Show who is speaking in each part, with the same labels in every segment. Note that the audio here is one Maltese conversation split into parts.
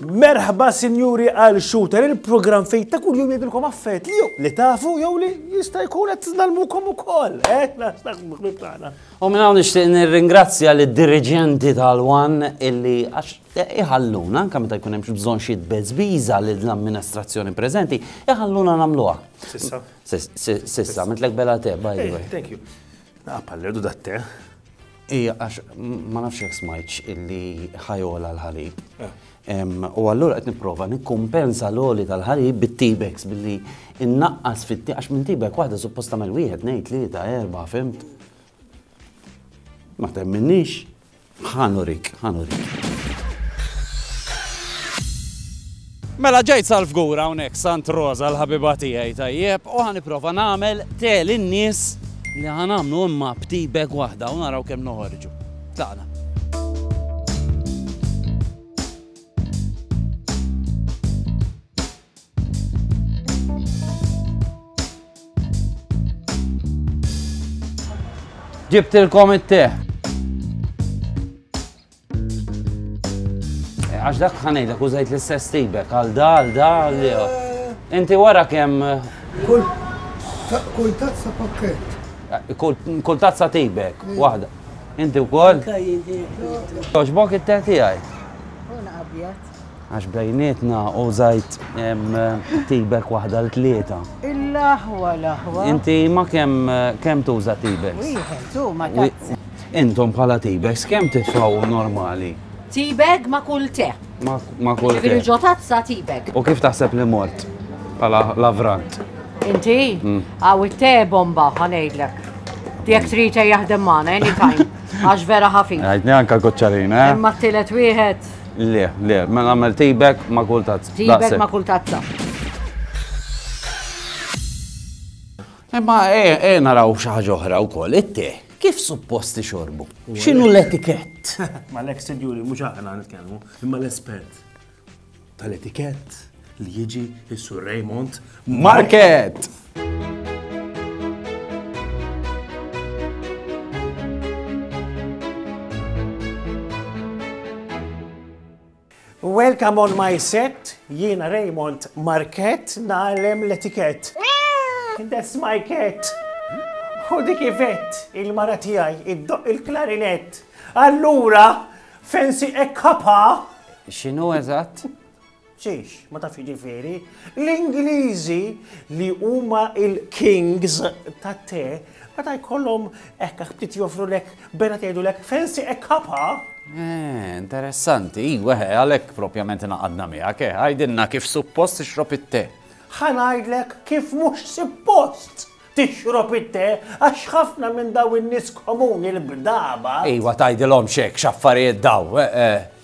Speaker 1: Merħba sinjuri għal shooter il-program fejn ta' kull jum jgħidilkom affett li li tafu jew li jista' jkun qed nalmukom ukoll. Eh,
Speaker 2: U minn hawn nixtieq nirringrazzja lid-diriġenti tal-Wan illi għax iħalluna, anke meta jkun hemm bżonn xi tbeżbiża lil l-amministrazzjoni preżenti, iħalluna nagħmluha. Sissa. Sissa, mitlek bela te, by the way. Thank you.
Speaker 1: Naqpa l-erdu da te. Ija,
Speaker 2: għax ma nafx jek smajċ illi ħajola l-ħalib. Eh. U għallura qed nipprova nikkumpensa l-oli tal-ħalib bit-tibex billi innaqqas fit għax minn tibek waħda supposta mel wieħed ngħid li ta' erba' fimt. Ma temminniex. Ħa nurik, ħa nurik. Mela ġejt sal-fgur hawnhekk Sant Rosa l-ħabiba tiegħi tajjeb u ħaniprofa nagħmel tel in-nies li ħanamlu imma btibek waħda u naraw kemm noħorġu. Tagħna. Ġibtilkom it-teh. Eh, għax dak ħanejda kużajt l-istess tibek għal da, għal da, għal li. Eh. Inti wara kem. Eh, kull
Speaker 3: kull tazza pakket. Kull tazza
Speaker 2: tibek, wahda. Inti u koll? Toġbok it-teh tijaj. Una abjad. Għax bejnietna u żajt tibek waħda l tlieta. L-aħwa
Speaker 4: l-aħwa. Inti ma
Speaker 2: kemm kemm tuża tibek? Wieħed
Speaker 4: u ma tazza. Intom bħala
Speaker 2: tibek kemm titfaw normali? Tibek ma
Speaker 4: kull te. Ma kull te.
Speaker 2: Ġifieri ġo tazza tibek.
Speaker 4: U kif taħseb
Speaker 2: li
Speaker 4: mort
Speaker 2: bħala lavrant? Inti?
Speaker 4: Mm. Għaw it-te bomba ħanejdlek. Jek trita jaħdem maħna, anytime. Għax vera ħafif. Għajtni anka għocċarina.
Speaker 2: Eh? Imma t-tilet wieħed.
Speaker 4: Le, le, ma
Speaker 2: mela nagħmel tibek ma' kull tazza. Tibek ma' kull tazza. Imma e, e naraw xi ħaġa oħra wkoll, it-te, kif supposti xorbu? X'inhu l-etikett? Ma l-ex sinjuri
Speaker 1: mhux aħna nitkellmu, imma l-espert tal-etikett. li jiġi is-Sur Raymond Market! Welcome on my set, jiena Raymond Market, nagħlem l-etikett. That's my cat. U dik ivet il-mara tiegħi iddoq il-klarinett. Allura, fensi ekkapa. X'inhu
Speaker 2: eżatt? Xiex,
Speaker 1: ma tafx jiġifieri? L-Ingliżi li huma il-kings tat-te, meta jkollhom hekk ftit joffrulek bena tgħidulek fancy a cuppa? Eh,
Speaker 2: interessanti, iwa, eh, għalhekk propjament naqadna miegħek, eh, għajdilna kif suppost ixrob it-te. Ħa ngħidlek
Speaker 1: kif mhux suppost tixrob it-te għax ħafna minn daw in-nies komuni l-bdaba. Iwa tgħidilhom
Speaker 2: xek x'affarijiet daw, eh, eh.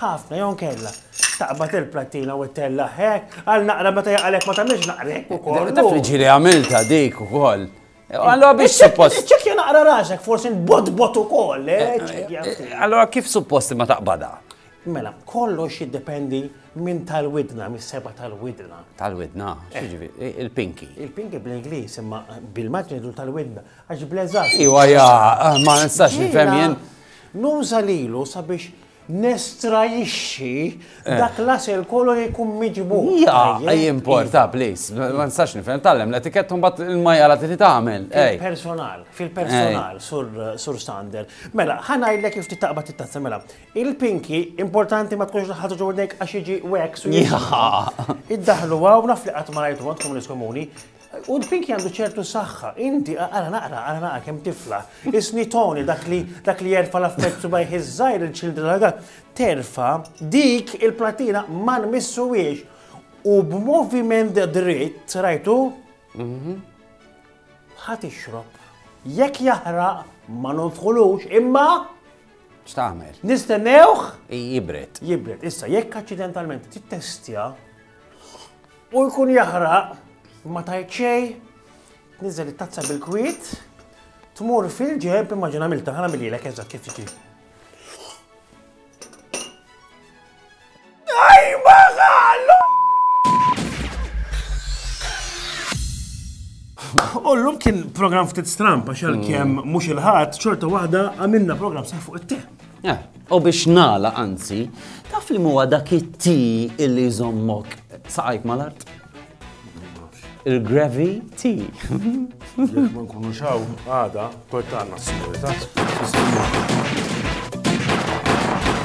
Speaker 1: Ħafna jew inkella taqbad il-plattina u ttellagħha hekk, għal naqra meta jaqa' lek ma tagħmilx naqra hekk ukoll. Taf li ġieli għamiltha
Speaker 2: dik ukoll. Allora biex suppost. Iċċekkja naqra rasek,
Speaker 1: forsi nbotbot ukoll, eh, iċċekkja. Eh, eh, allora
Speaker 2: kif suppost ma taqbadha? Mela, kollox
Speaker 1: jiddependi minn tal-widna, mis seba tal-widna. Tal-widna,
Speaker 2: xieġivi, eh. il-pinki. Il-pinki bl-Inglis,
Speaker 1: imma bil-maġnitu tal-widna, għax bleżat. Iwa, ja, eh,
Speaker 2: ma nistax nifhem jien. Nuża
Speaker 1: lilu sabiex nestrajixxi eh. dak l-asel kollu li jkun miġbu. Ja, ej importa,
Speaker 2: please. Ma nistax nifhem, tallem l-etikett un bat il-majja la tiri tagħmel. Fil-personal,
Speaker 1: fil-personal, sur Sander. Mela, ħana jillek kif titaqba titazza, mela. Il-pinki, importanti ma tkunx l-ħadu ġordnek għax iġi wax. Ja. Iddaħlu għaw, naf li għatmarajtu għandkom l-iskomuni, U l-pinki għandu ċertu saħħa. Inti, ara naqra, ara naqra kemm tifla. Isni Tony, dak li dak li jerfa l-affett subajh iż-żgħir il-ċildra ragat, terfa dik il-platina ma nmissuwiex. U b'moviment dritt, rajtu? Ħadd ixrob. Jekk jaħraq ma nonfħulux, imma X'tagħmel?
Speaker 2: nistennewh
Speaker 1: Jibret.
Speaker 2: jibret. Issa, jekk
Speaker 1: aċċidentalment tittestja, U jkun jaħraq, ma tajt xej, tniżel it-tazza bil-kwiet, tmur fil-ġeb, immaġina milta, ħana mililek eżat kif tiġi. Tajba għallu! Ullum kien program ftit strampa xal kem mux il-ħat, ċorta wahda għamilna program sa' fuq it-te. Eh, u biex
Speaker 2: nala anzi, taf li muwa dak it-ti illi jżommok saqajk mal-art? Il-grevi ti. Jek
Speaker 1: ma nkunu xaw, għada, kol ta' għanna s-sigurita.